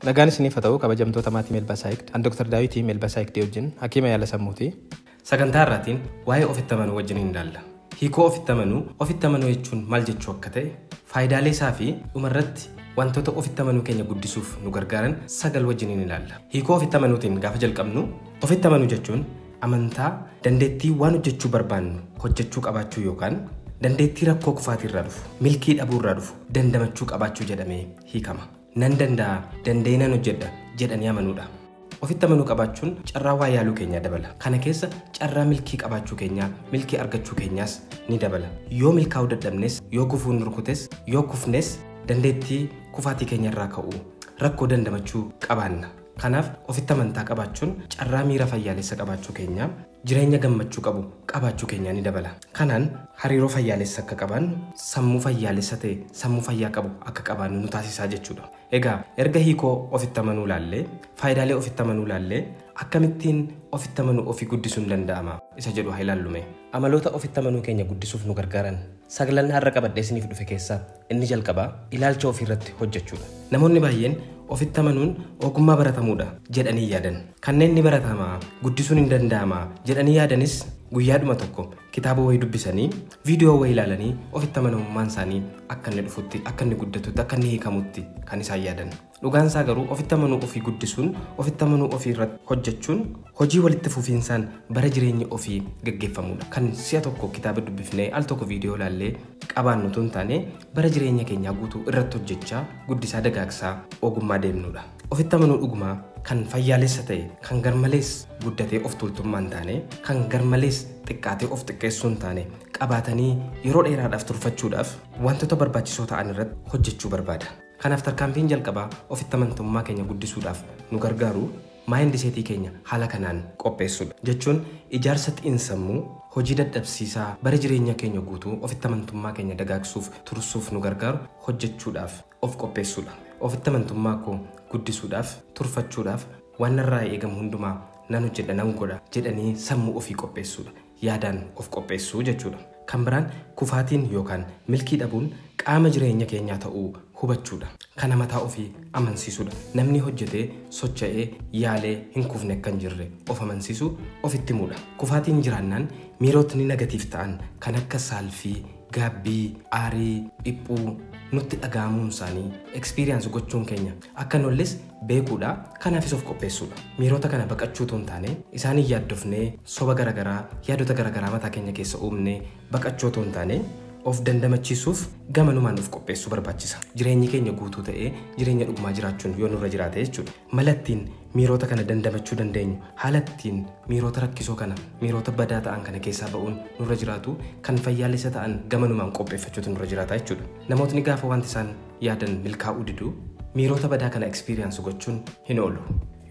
Nagaan isiniif haa ta'u kabajamtoota maatii Melbasaayikd. An Dr. Daawitii Melbasaayikdii wajjin hakiima yaala sammuuti. Sagantaa irraatiin waa'ee ofitti amanuu wajjin hin ilaalla. Hiikoo ofitti amanuu, ofitti amanuu jechuun maal jechuu akka ta'e, faayidaalee isaa fi dhumarratti wantoota ofitti amanuu keenya guddisuuf nu gargaaran sagal wajjin hin ilaalla. Hiikoo ofitti amanuutiin gaafa jalqabnu ofitti amanuu jechuun Amantaa, dandeettii waan hojjechuu barbaannu hojjechuu qabaachuu yookaan dandeettii rakkoo kufaatii irraa dhufu, milkii dhabuu irraa dhufu dandamachuu qabaachuu jedhamee hiikama. Nan danda'a, danda'ee nan hojjedha jedhanii amanuudha. Ofitti amanuu qabaachuun carraa waa yaaluu keenyaa dabala. Kana keessa carraa milkii qabaachuu keenyaa, milkii argachuu keenyaas ni dabala. Yoo milkaa'uu dadhabnes, yoo gufuun nu rukutes, yoo kufnes dandeettii kufaatii keenya irraa ka'uu, rakkoo dandamachuu qabaanna. Kanaaf ofitti amantaa qabaachuun carraa miira fayyaalessa qabaachuu keenyaa, jireenya gammachuu qabu qabaachuu keenyaa ni dabala. Kanaan hariiroo fayyaalessa akka qabaannu, sammuu fayyaalessa ta'e, sammuu fayyaa qabu akka qabaannu nu taasisaa jechuudha. Egaa erga hiikoo ofitti amanuu ilaallee, faayidaalee ofitti amanuu ilaallee, akkamittiin ofitti amanuu ofii guddisuun danda'ama isa jedhu haa ilaallu mee. Amaloota ofitti amanuu keenya guddisuuf nu gargaaran saglan har'a qabadhee isiniif dhufe keessaa Inni jalqabaa ilaalcha ofiirratti hojjechuudha. Namoonni baay'een ofitti amanuun ogummaa baratamuudha jedhanii yaadan. Kanneen ni baratama, guddisuun hin danda'ama jedhanii yaadanis guyyaadhuma tokko kitaaba wayii dubbisanii, viidiyoo wayii ilaalanii ofitti amanamummaan isaanii akka inni dhufutti, akka inni guddatutti, akka inni hiikamutti kan isaan yaadan. Dhugaan isaa garuu ofitti amanuu ofii guddisuun, ofitti amanuu ofii irratti hojjechuun hojii walitti fufiinsaan bara jireenya ofii gaggeeffamudha. Kan si'a tokko kitaaba dubbifnee al tokko viidiyoo ilaallee qabaannu utuu hin taane bara jireenya keenyaa guutuu irratti hojjechaa guddisaa dagaagsaa ogummaa deemnudha. Ofitti amanuu dhugumaa kan fayyaalessa ta'e kan garmalees guddatee of tuultummaa hin taane kan garmalees xiqqaatee of xiqqeessuu hin taane qabaatanii yeroo dheeraadhaaf turfachuudhaaf wantoota barbaachisoo ta'an irratti hojjechuu barbaada. Kanaaf tarkaanfiin jalqabaa ofitti amantamummaa keenya guddisuudhaaf nu gargaaru maayindiseetii keenya haala kanaan qopheessuudha. Jechuun ijaarsa xiinsammuu hojii dadhabsiisaa bara jireenya keenya guutuu ofitti amantummaa keenya dagaagsuuf tursuuf nu gargaaru hojjechuudhaaf of qopheessuudha. Ofitti amantummaa koo guddisuudhaaf, turfachuudhaaf waan narraa eegamu hundumaa nan hojjedha, nan godha jedhanii sammuu ofii qopheessuudha. yaadaan of qopheessuu jechuudha. Kan biraan kufaatiin yookaan milkii dhabuun qaama jireenya keenyaa ta'uu hubachuudha. Kana mataa ofii amansiisuudha. Namni hojjetee, socha'ee, yaalee hin kufne akka hin jirre of amansiisuu, ofitti himuudha. Kufaatiin jiraannaan miirotni nagatiif ta'an kan akka saalfii, gaabbii, aarii, dhiphuu nutti dhaga'amuunsaanii experience gochuun keenya akka hin olles beekuudha. Kanaafis of qopheessuudha. Miirota kana baqachuu utuu hin taane, isaaniin yaaddofnee, soba gara garaa, yaadota gara garaa mataa keenya keessa uumnee baqachuu utuu hin taane, of dandamachiisuuf gamanumaan of qopheessuu barbaachisa. Jireenyi keenya guutuu ta'ee jireenya dhugumaa jiraachuun yoo nurra jiraate jechuudha. Mala ittiin miirota kana dandamachuu dandeenyu, haala ittiin miirota rakkisoo kana, miirota badaa ta'an kana keessaa ba'uun nurra jiraatu kan fayyaalessa ta'an gamanumaan qopheeffachuutu nurra jiraata jechuudha. Namootni gaafa wanti isaan yaadan milkaa'uu diduu, miirota badaa kana experience gochuun hin oolu.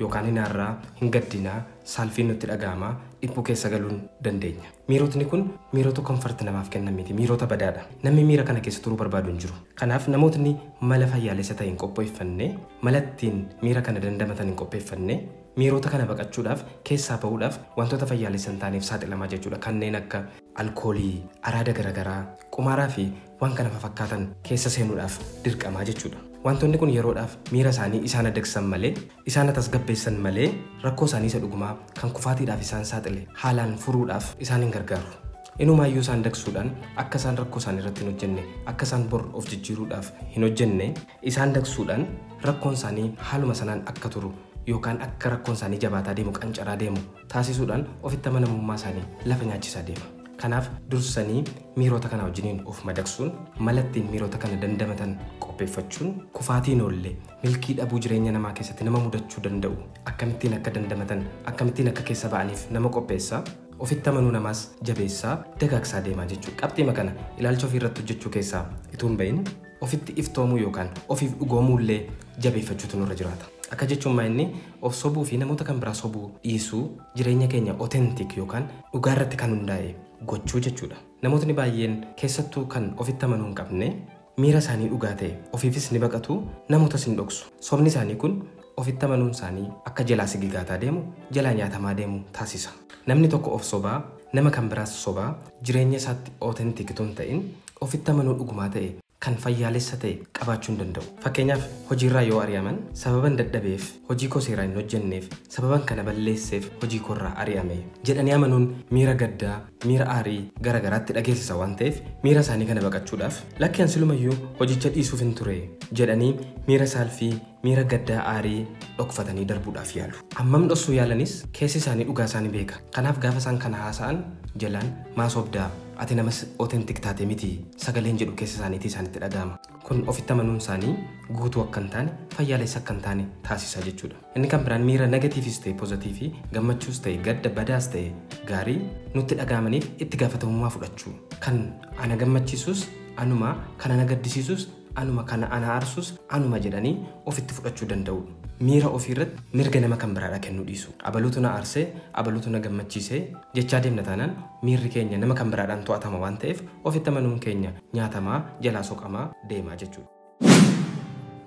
Yookaan hin aarraa, hin gaddinaa, saalfiin nutti dhaga'ama, dhiphuu keessa galuun dandeenya. Miirotni kun miirota comfort namaaf kennan miti, miirota badaadha. Namni miira kana keessa turuu barbaadu hin jiru. Kanaaf namootni mala fayyaalessa ta'e hin qophoeffanne, mala ittiin miira kana dandamatan hin qopheeffanne, miirota kana baqachuudhaaf, keessaa bahuudhaaf wantoota fayyaalessa hin taaneef saaxilamaa jechuudha. Kanneen akka alkoolii, araada garagaraa, qumaaraa fi waan kana fafakkaatan keessa seenuudhaaf dirqamaa jechuudha. Waantonni kun yeroodhaaf miira isaanii isaan adagsan malee, isaan atasgabbeessan malee rakkoo isaanii isa dhugumaa kan kufaatiidhaaf isaan saaxile haalaan furuudhaaf isaan hin gargaaru. Inumaayyuu isaan dagsuudhaan akka isaan rakkoo isaanii irratti hin hojjenne, akka isaan bor of jijjiiruudhaaf hin hojjenne isaan dagsuudhaan rakkoon isaanii haaluma sanaan akka turu yookaan akka rakkoon isaanii jabaataa deemu, qancaraa deemu taasisuudhaan ofitti amanamummaa isaanii lafa nyaachisaa deema. Kanaaf dursanii miiroota kanaa wajjiniin of madaqsuun mala ittiin miiroota kana dandamatan qopheeffachuun kufaatiin oolle milkii dhabuu jireenya namaa keessatti nama mudachuu danda'u akkamittiin akka dandamatan akkamittiin akka keessa ba'aniif nama qopheessa. Ofitti amanuu namaas jabeessaa dagaagsaa deema jechuudha. Qabxiima kana ilaalcha ofii irratti hojjechuu keessaa utuu hin ba'in Ofitti iftoomuu yookaan ofiif dhugoomuu illee jabeeffachuutu nurra jiraata. Akka jechuun maa inni of sobuu fi namoota kan biraa sobuu dhiisuu jireenya keenya authentic yookaan dhugaa irratti kan hundaa'e gochuu jechuudha. Namootni baay'een keessattuu kan ofitti amanuu hin qabne miira isaanii dhugaa ta'e ofiifis ni baqatu namootas hin dhoksu. Sobni isaanii kun ofitti amanuun isaanii akka jalaa sigigaataa deemu, jalaa nyaatamaa deemu taasisa. Namni tokko of sobaa, nama kan biraas sobaa, jireenya isaatti authentic utuu hin ta'in, ofitti amanuu dhugumaa ta'e, kan fayyaalessa ta'e qabaachuu hin danda'u. Fakkeenyaaf, hojiirraa yoo ari'aman, sababan dadhabeef, hojii koo seeraan hin hojjenneef, sababan kana balleesseef hojii koorraa ari'ame. jedhanii amanuun miira gaddaa, miira aarii gara garaatti dhageessisa waan ta'eef, miira isaanii kana baqachuudhaaf, lakki an silumayyuu hojicha dhiisuufin ture jedhanii miira saalfii, Miira gaddaa, aarii, dhokfatanii darbuudhaaf yaalu. Hammam dhoksuu yaalanis keessi isaanii dhugaa isaa ni beeka. Kanaaf gaafa isaan kana haasa'an jalaan maa sobda, ati nama authentic taate miti sagaleen jedhu keessa isaaniitii isaanitti dhaga'ama. Kun ofitti amanuun isaanii guutuu akka hin taane, fayyaalessa akka hin taane taasisa jechuudha. Inni kan biraan miira negatiivis ta'e pozatiivii, gammachuus ta'e gadda, badaas ta'e gaarii nutti dhaga'amaniif itti gaafatamummaa fudhachuu. Kan ana gammachiisus anuma, kan ana gaddisiisus anuma kana ana arsus anuma jedhanii ofitti fudhachuu danda'uu miira ofii irratti mirga nama kan biraadha kennuu dhiisu abalutu na arsee abalutu na gammachiisee jechaa deemna taanaan miirri keenya nama kan biraadhaan to'atama waan ta'eef ofitti amanuun keenya nyaatamaa jalaa soqamaa deemaa jechuudha.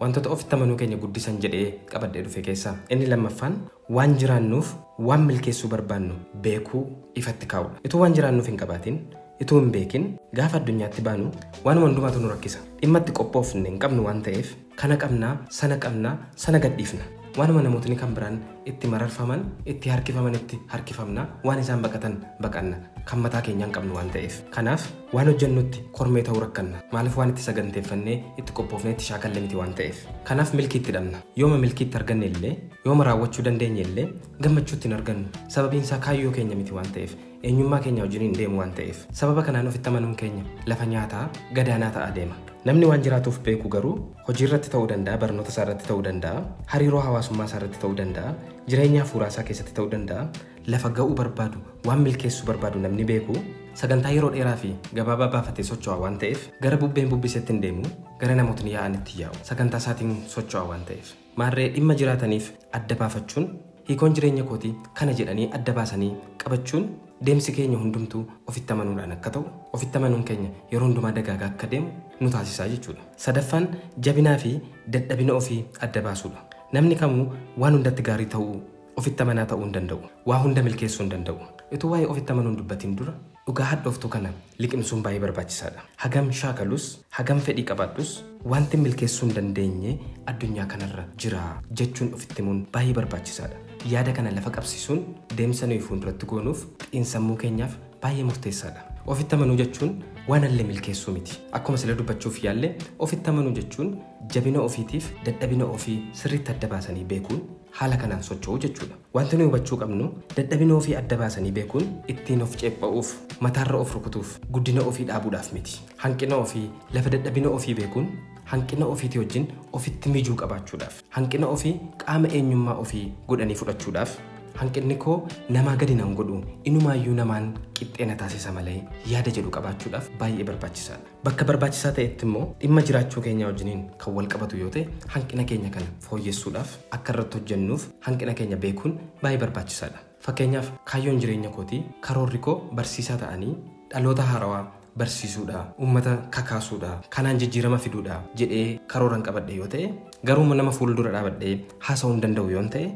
Wantoota ofitti amanuu keenya guddisan jedhee qabadhee dhufe keessaa inni lammaffaan Waan jiraannuuf waan milkeessuu barbaannu beekuu ifatti kaa'uudha. Ituu waan jiraannuuf hin qabaatin, ituu hin beekin gaafa addunyaatti baanu waanuma hundumaatu nu rakkisa. Dhimma itti qophoofne hin qabnu waan ta'eef kana qabna, sana qabna, sana gadhiifna. Waanuma namootni kan biraan itti mararfaman, itti harkifamanitti harkifamna, waan isaan baqatan baqanna. Kan mataa keenyaa hin qabnu waan ta'eef. Kanaaf waan hojjennutti kormee ta'uu rakkanna. Maaliif waan itti saganteeffannee, itti qophoofnee, itti shaakalle miti waan ta'eef. Kanaaf milkii itti dhabna. Yooma milkii itti arganne illee Yooma raawwachuu dandeenye illee gammachuutti hin argannu. Sababiin isaa kaayyoo keenya miti waan ta'eef, eenyummaa keenya wajjin hin deemu waan ta'eef. Sababa kanaan ofitti amanuun keenya lafa nyaataa gadaanaa ta'aa deema. Namni waan jiraatuuf beeku garuu hojii irratti ta'uu danda'a, barnoota isaa irratti ta'uu danda'a, hariiroo hawaasummaa isaa irratti ta'uu danda'a, jireenya hafuuraa isaa keessatti ta'uu danda'a. Lafa ga'uu barbaadu, waan milkeessuu barbaadu namni beeku sagantaa yeroo dheeraa fi gabaabaa baafatee socho'a waan ta'eef gara bubbeen bubbisetti hin deemu, gara namootni yaa'anitti yaa'u. Sagantaa isaatiin socho'a waan ta'eef. Maarree dhimma jiraataniif adda baafachuun hiikoon jireenya kooti kana jedhanii adda baasanii qabachuun deemsi keenya hundumtuu ofitti amanuudhaan akka ta'u, ofitti amanuun keenya yeroo hundumaa dagaagaa akka deemu nu taasisa jechuudha. Sadaffaan jabinaa fi dadhabina ofii adda baasuudha. Namni kamuu waan hundatti gaarii ta'uu, ofitti amanaa ta'uu hin danda'u. Waa hunda milkeessuu hin danda'u. Utuu waa'ee ofitti amanuu hin dubbatiin dura, Dhugaa hadhooftuu kana liqimsuun baay'ee barbaachisaadha. Hagam shaakalus, hagam fedhii qabaadhus wanti milkeessuu hin dandeenye addunyaa kanarra jira jechuun ofitti himuun baay'ee barbaachisaadha. Yaada kana lafa qabsiisuun deemsa nuyi fuulduratti goonuuf xiinsammuu keenyaaf baay'ee murteessaadha. Ofitti amanuu jechuun waan alle milkeessuu miti. Akkuma sila dubbachuuf yaalle ofitti amanuu jechuun jabina ofiitiif dadhabina ofii sirriitti adda baasanii beekuun, haala kanaan socho'u jechuudha. Wanti nuyi hubachuu qabnu dadhabina ofii adda baasanii beekuun ittiin of ceepha'uuf, mataarra of rukutuuf, guddina ofii dhaabuudhaaf miti. Hanqina ofii, lafa dadhabina ofii beekuun hanqina ofiitii wajjin ofitti mijuu qabaachuudhaaf. Hanqina ofii qaama eenyummaa ofii godhanii fudhachuudhaaf hanqinni koo namaa gadi nan godhu, inumaayyuu namaan qixxee na taasisa malee yaada jedhu qabaachuudhaaf baay'ee barbaachisaadha. Bakka barbaachisaa ta'etti immoo dhimma jiraachuu keenyaa wajjiniin kan wal qabatu yoo ta'e hanqina keenya kana fooyyessuudhaaf akka irratti hojjennuuf hanqina keenya beekuun baay'ee barbaachisaadha. Fakkeenyaaf kaayyoon jireenya kootii, karoorri koo barsiisaa ta'anii dhaloota haarawaa barsiisuudha, uummata kakaasuudha, kanaan jijjiirama fiduudha jedhee karooran qabadhe yoo ta'e, garuummoo nama fuuldura dhaabadhee haasa'uu hin danda'u yoon ta'e,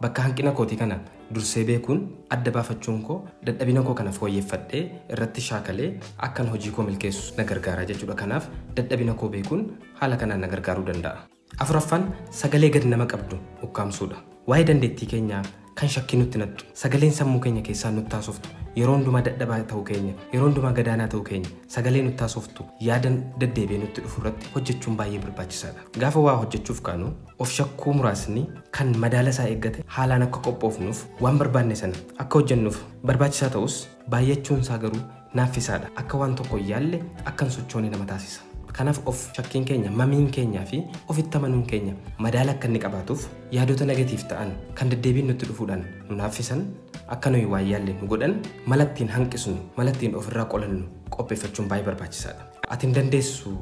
Bakka hanqina kootii kana dursee beekuun adda baafachuun koo dadhabina koo kana fooyyeffadhee irratti shaakalee akkan hojii koo milkeessu na gargaara jechuudha. Kanaaf dadhabina koo beekuun haala kanaan na gargaaruu danda'a. Afuraffaan sagalee gad nama qabdu ukkaamsuudha. Waa'ee dandeettii keenyaa kan shakkii nutti naqxu, sagaleen sammuu keenya keessaa nutti haasoftu, yeroo hundumaa dadhabaa ta'uu keenya, yeroo hundumaa gadaanaa ta'uu keenya sagalee nutti haasoftu yaada deddeebi'ee nutti dhufu irratti hojjechuun baay'ee barbaachisaadha. Gaafa waa hojjechuuf kaanu Of shakkuu muraasni kan madaala isaa eeggate haalaan akka qophoofnuuf waan barbaanne sana akka hojjennuuf barbaachisaa ta'us baay'achuun isaa garuu naaffisaadha. Akka waan tokko hin yaalle, akka hin sochoone nama taasisa. Kanaaf of shakkiin keenya, mamiin keenyaa fi ofitti amanuun keenya madaala akka inni qabaatuuf yaadota negatiiv ta'an kan deddeebiin nutti dhufuudhaan nu naaffisan akka nuyi waan yaalle nu godhan mala ittiin hanqisnu, mala ittiin ofirraa qolannu qopheeffachuun baay'ee barbaachisaadha. Ati hin dandeessu!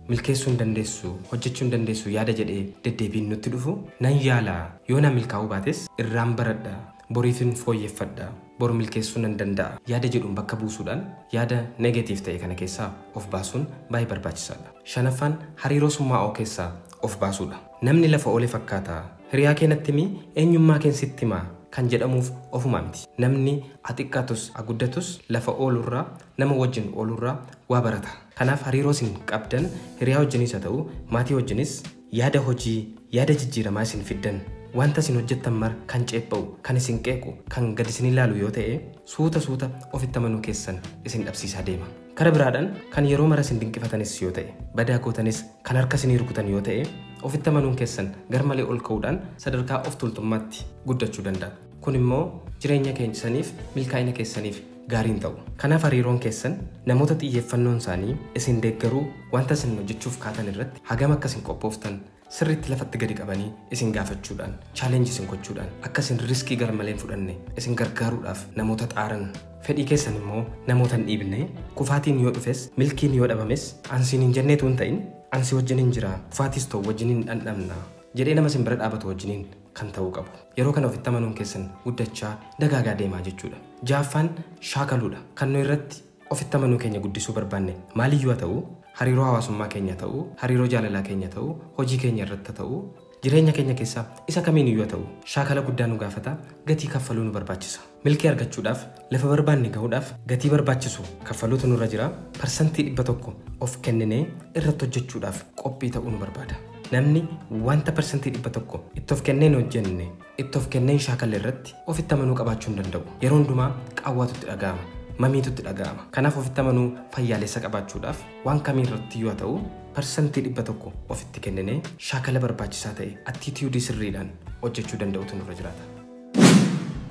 milkeessuu hin dandeessu, hojjechuu hin dandeessu yaada jedhee deddeebiin nutti dhufu nan yaala, yoo naa milkaa'uu baates irraan baradha, boriifin fooyyeffadha, bor milkeessuu nan danda'a yaada jedhuun bakka buusuudhaan yaada negative ta'e kana keessaa of baasuun baay'ee barbaachisaadha. Shanaffaan hariiroo summaa'oo keessaa of baasuudha. Namni lafa oole fakkaata, hiriyaa kee natti himi eenyummaa keen sitti hima kan jedhamuuf ofumaa miti. Namni a xiqqaatus a guddatus lafa oolurraa, nama wajjin oolurraa waa barata. Kanaaf hariiroo isin qabdan hiriyaa wajjinis haa ta'u maatii wajjinis yaada hojii, yaada jijjiiramaa isin fiddan, wanta isin hojjettan mara kan ceepha'u, kan isin qeequ, kan gad isin ilaalu yoo ta'e suuta suuta ofitti amanuu keessan isin dhabsiisaa deema. Kara biraadhaan kan yeroo mara isin dinqifatanis yoo ta'e, badaa gootanis kan harka isinii rukutan yoo ta'e ofitti amanuun keessan garmalee ol ka'uudhaan sadarkaa of tuultummaatti guddachuu danda'a. Kun immoo jireenya keessaniif, milkaa'ina keessaniif gaarii hin ta'u. Kanaaf hariiroon keessan namoota xiyyeeffannoon isaanii isin deeggaruu wanta isin hojjechuuf kaatan irratti hagam akka isin qophooftan sirriitti lafatti gadi qabanii isin gaafachuudhaan, challenge isin gochuudhaan, akka isin riskii garmalee hin fudhanne isin gargaaruudhaaf namoota xaaran. Fedhii keessan immoo namoota hin dhiibne. Kufaatiin yoo dhufes, milkiin yoo dhabames an siin hin jennee utuu hin ta'in an si wajjinin jira, kufaatiis ta'u wajjinin dhandhamna jedhee nama isin bira dhaabatu wajjinin kan ta'uu qabu. Yeroo kana ofitti amanuun keessan guddachaa, dagaagaa deema jechuudha. Ja'affaan shaakaluudha. Kan nu irratti ofitti amanuu keenya guddisuu barbaanne maaliyyuu haa ta'u, hariiroo hawaasummaa keenya haa ta'u, hariiroo jaalalaa keenya haa ta'u, hojii keenya irratti haa ta'u, jireenya keenya keessaa isa kamiiniyyuu haa ta'u shaakala guddaa nu gaafata, gatii kaffaluu nu barbaachisa. Milkii argachuudhaaf, lafa barbaanne gahuudhaaf gatii barbaachisu kaffaluutu nurra jira. Parsantii 100 of kenninee irratti hojjechuudhaaf qophii ta'uu nu barbaada. Namni wanta parsantii 100 itti of kennee hin hojjenne, itti of kennee hin shaakalle irratti ofitti amanuu qabaachuu hin danda'u. Yeroo hundumaa qaawwaatu itti dhaga'ama. Mamiitu itti dhaga'ama. Kanaaf ofitti amanuu fayyaalessa qabaachuudhaaf waan kamii irrattiyyuu haa ta'u parsantii 100 ofitti kenninee shaakala barbaachisaa ta'e attitude sirriidhaan hojjechuu danda'uutu nurra jiraata.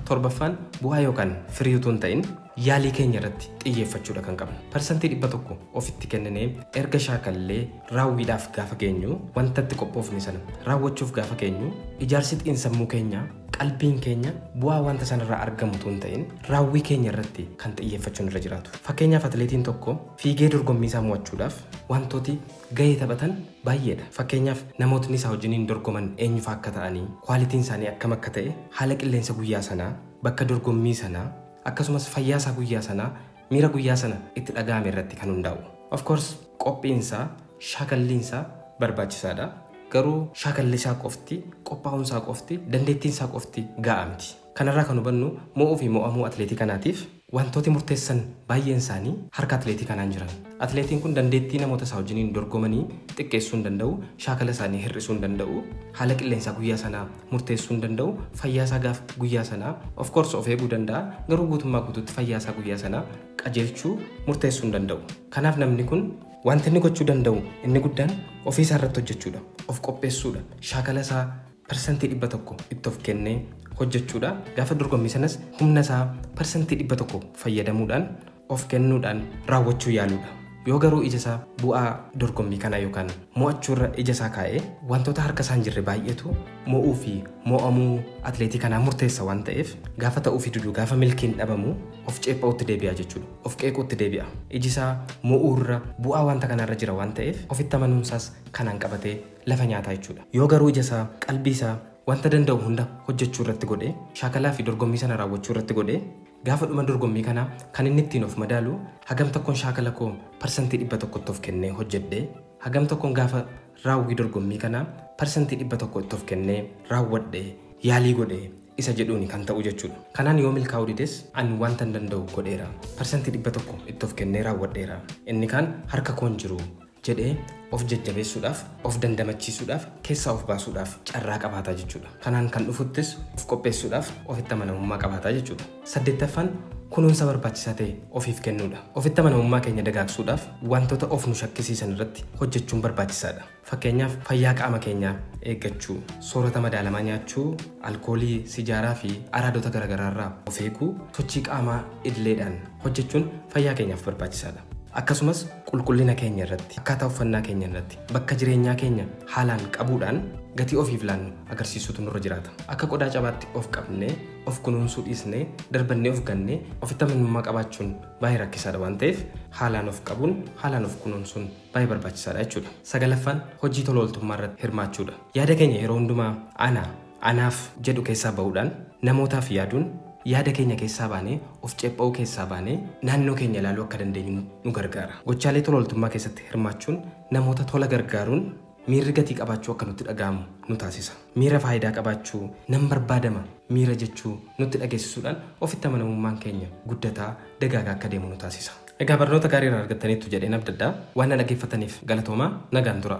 Torbaffaan bu'aa yookaan firii utuu hin ta'in yaalii keenya irratti xiyyeeffachuudha kan qabnu. Parsantii 100 ofitti kenninee erga shaakallee raawwiidhaaf gaafa geenyu wanta itti qophoofne sana raawwachuuf gaafa geenyu ijaarsi xiinsammuu keenyaa qalbiin keenya bu'aa wanta sanarraa argamu utuu hin ta'in raawwii keenya irratti kan xiyyeeffachuun irra jiraatu. Fakkeenyaaf atileetiin tokko fiigee dorgommii isaa mo'achuudhaaf wantooti gahee taphatan baay'eedha. Fakkeenyaaf, namootni isaa wajjiniin dorgoman eenyufaa akka ta'anii, kwaalitiin isaanii akkam akka ta'e, haala qilleensa guyyaa sanaa, bakka dorgommii sanaa, akkasumas fayyaa isaa guyyaa sanaa, miira guyyaa sana itti dhaga'ame irratti kan hundaa'u. Of course, qophiin isaa, shaakalliin isaa barbaachisaadha. Garuu shaakalli isaa qofti, qophaa'uun isaa qofti, dandeettiin isaa qofti ga'aa miti. Kanarraa kan hubannu mo'uufi mo'amuu atileetii kanaatiif wantooti murteessan baayyeen isaanii harka atileetii kanaan jiran. Atileetiin kun dandeettii namoota isaa wajjiniin dorgomanii xiqqeessuu hin danda'u, shaakala isaanii hir'isuu hin danda'u, haala qilleensaa guyyaa sanaa murteessuu hin danda'u, fayyaa isaa gaaf guyyaa sanaa of course of eeguu danda'a garuu guutummaa guutuutti fayyaa isaa guyyaa sanaa qajeelchuu murteessuu hin danda'u. Kanaaf namni kun. Wanti inni gochuu danda'u inni guddaan ofii isaa irratti hojjechuudha, of qopheessuudha, shaakala isaa. parsantii 100 itti of kennee hojjechuudha. Gaafa dorgommii sanas humna isaa parsantii 100 fayyadamuudhaan of kennuudhaan raawwachuu yaaluudha. Yoo garuu ija isaa bu'aa dorgommii kanaa yookaan mo'achuu irra ija isaa kaa'ee wantoota harka isaa hin jirre baay'eetu mo'uu fi mo'amuu atleetii kanaa murteessa waan ta'eef gaafa ta'uu fi diduu gaafa milkiin dhabamu of ceepha'uutti deebi'a jechuudha. Of qeequutti deebi'a. Iji isaa mo'uu irra bu'aa wanta kanaa irra jira waan ta'eef ofitti amanuun isaas kanaan qabatee lafa nyaataa jechuudha. Yoo garuu ija isaa, qalbii isaa wanta danda'u hunda hojjechuu irratti godhe, shaakalaa fi dorgommii sana raawwachuu irratti godhe, gaafa dhuma dorgommii kanaa kan inni ittiin of madaalu hagam tokkon shaakala koo parsantii 100 tti of kennee hojjedhe, hagam tokkon gaafa raawwii dorgommii kanaa parsantii 100 itti of kennee raawwadhe, yaalii godhe isa jedhuuni kan ta'u jechuudha. Kanaan yoo milkaa'uu dides ani wantan danda'u godheera, parsantii 100 itti of kennee raawwadheera, inni kaan harka koo hin jiru jedhee of jajjabeessuudhaaf, of dandamachiisuudhaaf, keessaa of baasuudhaaf carraa qabaata jechuudha. Kanaan kan dhufuttis of qopheessuudhaaf ofitti amanamummaa qabaata jechuudha. Saddeettaffaan kunuunsa barbaachisaa ta'e ofiif kennuudha. Ofitti amanamummaa keenya dagaagsuudhaaf wantoota of nu shakkisiisan irratti hojjechuun barbaachisaadha. Fakkeenyaaf fayyaa qaama keenyaa eeggachuu, soorata madaalamaa nyaachuu, alkoolii, sijaaraa fi araadota garaagaraa irraa of eeguu, sochii qaamaa idileedhaan hojjechuun fayyaa keenyaaf barbaachisaadha. Akkasumas qulqullina keenya irratti, akkaataa uffannaa keenya irratti, bakka jireenyaa keenya haalaan qabuudhaan gatii ofiif laannu agarsiisuutu nurra jiraata. Akka qodaa cabaatti of qabnee, of kunuunsuu dhiisnee, darbannee of gannee ofitti amanummaa qabaachuun baay'ee rakkisaadha waan ta'eef haalaan of qabuun, haalaan of kunuunsuun baay'ee barbaachisaadha jechuudha. Sagalaffaan hojii tola ooltummaa irratti hirmaachuudha. Yaada keenya yeroo hundumaa ana, Anaaf jedhu keessaa ba'uudhaan namootaaf yaaduun yaada keenya keessaa baanee, of ceepha'uu keessaa baanee naannoo keenya ilaaluu akka dandeenyu nu gargaara. Gochaalee tola ooltummaa keessatti hirmaachuun namoota tola gargaaruun miirri gatii qabaachuu akka nutti dhaga'amu nu taasisa. Miira faayidaa qabaachuu, nan barbaadama miira jechuu nutti dhageessisuudhaan ofitti amanamummaan keenya guddataa, dagaagaa akka deemu nu taasisa. Egaa barnoota gaarii irraa argattaniittu jedheen abdadha. Waan na dhaggeeffattaniif galatoomaa. Nagaan turaa.